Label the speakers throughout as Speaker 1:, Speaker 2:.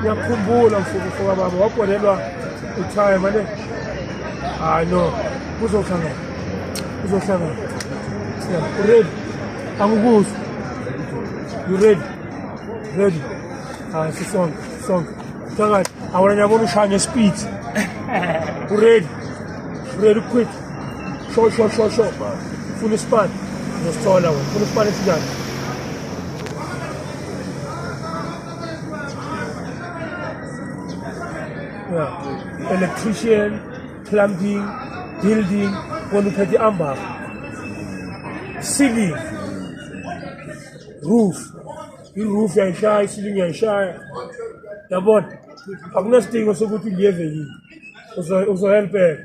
Speaker 1: ngiyakhumbula mfukufuka baba wabholelwa utime ane hayi no kuzohlangana kuzohlangana uready angikuzi you ready ready hayi sisonke sisonke phakathi awona ngiyabona ushaya ngespeed uready uready ukhwithi Sho sho sho sho. Funa ispan. Ngosithola wena. Funa ispan esinjani? Yeah. Electrician, plumbing, building, wena uphethe ambafu. Ceiling. Roof. I-roof yayishaya, i-ceiling yayishaya. Yabona? Akunesidingo sokuthi uliyeve yini. Uzohelpeka.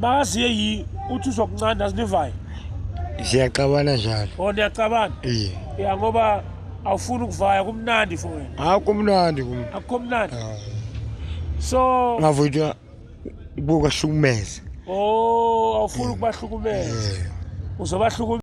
Speaker 1: bakaziye yi uthi uzokuncanda azinivayo siyaxabana
Speaker 2: njalo o oh, niyaxabana iye
Speaker 1: ya ngoba awufuni ukuvaya kumnandi for wena hayi kumnandi kum akukho
Speaker 2: mnandi
Speaker 1: ah. so ngavuthwa ukubahlukumeza
Speaker 2: o oh,
Speaker 1: awufuni ukubahlukumeza uzobahlukumeza